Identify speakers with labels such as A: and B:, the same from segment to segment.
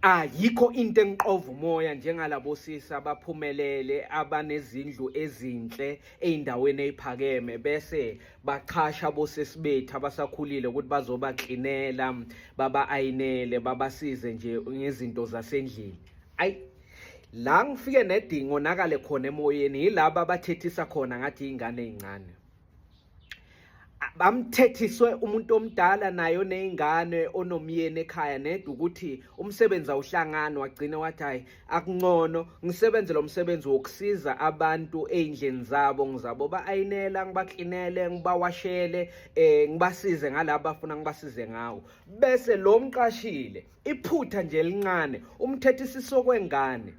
A: Ayikho into engiqova umoya njengalabo sisi abaphumelele abanezindlu ezinhle ezindaweni eziphakeme bese bachasha bosisi bethu abasakhulile ukuthi bazobaklinela baba ayinele babasize nje ngezinto zasendlini ayi la ngifike nedingo nakale khona emoyeni yilabo abathethisa khona ngathi izingane ezincane bamthethiswe umuntu omdala naye oney'ngane onomyeni ekhaya nedwa ukuthi umsebenzi awuhlangani wagcina wathi hhayi akuncono ngisebenze lo msebenzi wokusiza abantu ey'ndleni zabo ngizabo ba-ayinela ngibaklinele ngibawashele um ngibasize ngalaba bafuna ngibasize ngawo bese lo mqashile iphutha nje elincane umthethisiso kwengane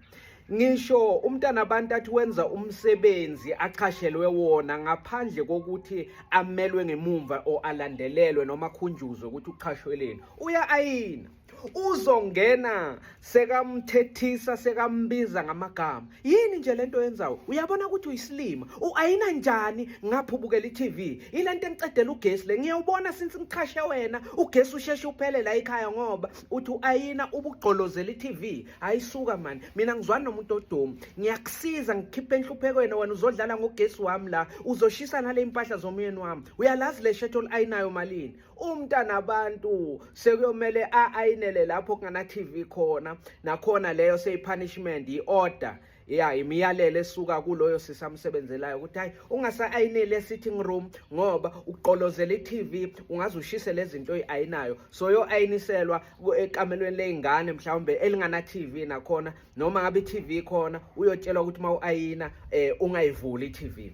A: ngisho umntana abantu athi wenza umsebenzi achashelwe wona ngaphandle kokuthi amelwe ngemumva o alandelelwe noma khunjuzwe ukuthi uchashweleni uya ayina uzongena sekamthethisa sekambiza ngamagama yini nje lento yenzawo uyabona ukuthi uyisilima uayina njani ngapho ubukela i-tv ilento engicedela ugesi le ngiyawubona since ngichashe wena ugesi usheshe uphele la ekhaya ngoba uthi uayina ubugqolozela i-tv ayisuka mani mina ngizwani nomuntu odumu ngiyakusiza ngikhiphe enhluphekweni wena uzodlala ngogesi wami la uzoshisa nale impahla zomyeni wami uyalazi le shetho oliayinayo malini umntana abantu sekuyomele a-ayinele lapho kungana-tv khona nakhona leyo seyipunishment yi-order ya imiyalelo esuka kuloyo sisi amsebenzelayo ukuthi hayi ungasa-ayineli e-sitting room ngoba uqolozela i-tv ungaze ushise le zinto oyi-ayinayo so yo-ayiniselwa ekamelweni ley'ngane mhlawumbe elingana-tv nakhona noma ngabe i-tv khona uyotshelwa ukuthi uma u-ayina um ungayivuli i-tv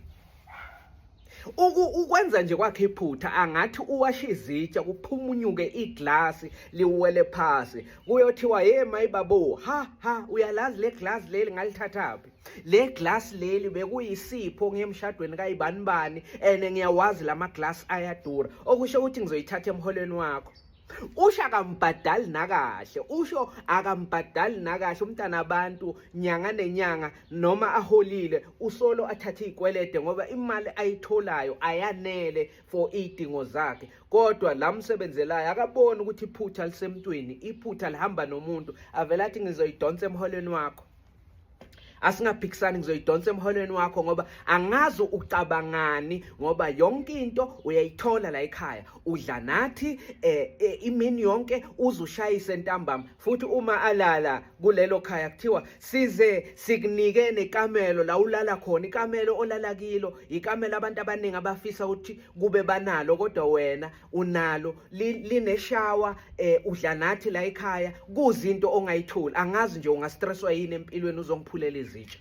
A: ukwenza nje kwakhe iphutha angathi uwasha izitsha kuphumunyuke iglasi liwele phasi kuyothiwa ye mayibabo ha ha uyalazi le glasi leli ngalithathaphi le glasi leli bekuyisipho ngiyemshadweni kayibanibani and ngiyawazi lama glasi ayadura okusho ukuthi ngizoyithatha emholweni wakho usho akambhadali nakahle usho akambhadali nakahle umntana abantu nyanga nenyanga noma aholile usolo athathe izikwelede ngoba imali ayitholayo ayanele for idingo zakhe kodwa la msebenzelayo akaboni ukuthi iphutha lisemntwini iphutha lihamba nomuntu avela athi ngizoyidonsa emholweni wakho asingaphikisani ngizoyidonsa emholweni wakho ngoba angazi ucabangani ngoba yonke into uyayithola la ekhaya udla nathi eh, eh, imini yonke uzushayise ntambama futhi uma alala kulelo khaya kuthiwa size sikunike nekamelo la ulala khona ikamelo olala kilo ikamelo abantu abaningi abafisa ukuthi kube banalo kodwa wena unalo lineshawa eh udla nathi la ekhaya kuzinto ongayitholi angazi nje ungastresswa yini empilweni uzongiphulela izitsha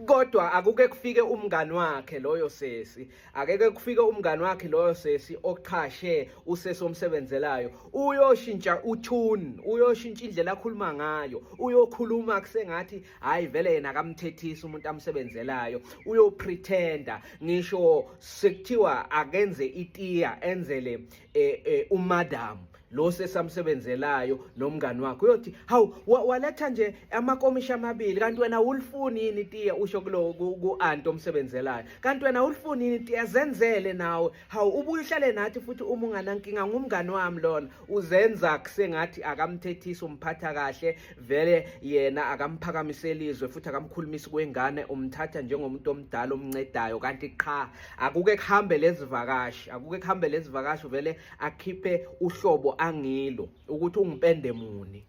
A: kodwa akuke kufike umngani wakhe loyo sesi akeke kufike umngani wakhe loyo sesi oqhashe usesi omsebenzelayo uyoshintsha utune uyoshintsha indlela akhuluma ngayo uyokhuluma kusengathi hayi vele yena akamthethisi umuntu amsebenzelayo uyopretenda ngisho sekuthiwa akenze itiya enzele eh, eh, umadam lo sesamsebenzelayo nomngani wakhe uyothi hawu waletha nje amakomishi amabili kanti wena ulifuni yini itiya usho kulo ku-anti omsebenzelayo kanti wena ulifuni yini itiya zenzele nawe hawu ubuye uhlale nathi futhi uma unganankinga ngumngani wami lona uzenza kusengathi akamthethisi umphatha kahle vele yena akamphakamiseli izwe futhi akamkhulumisi kwengane umthatha njengomuntu omdala omncedayo kanti qha akuke kuhambe lezivakashi akuke kuhambe lezivakashi vele akhiphe uhlobo angilo ukuthi ungipende muni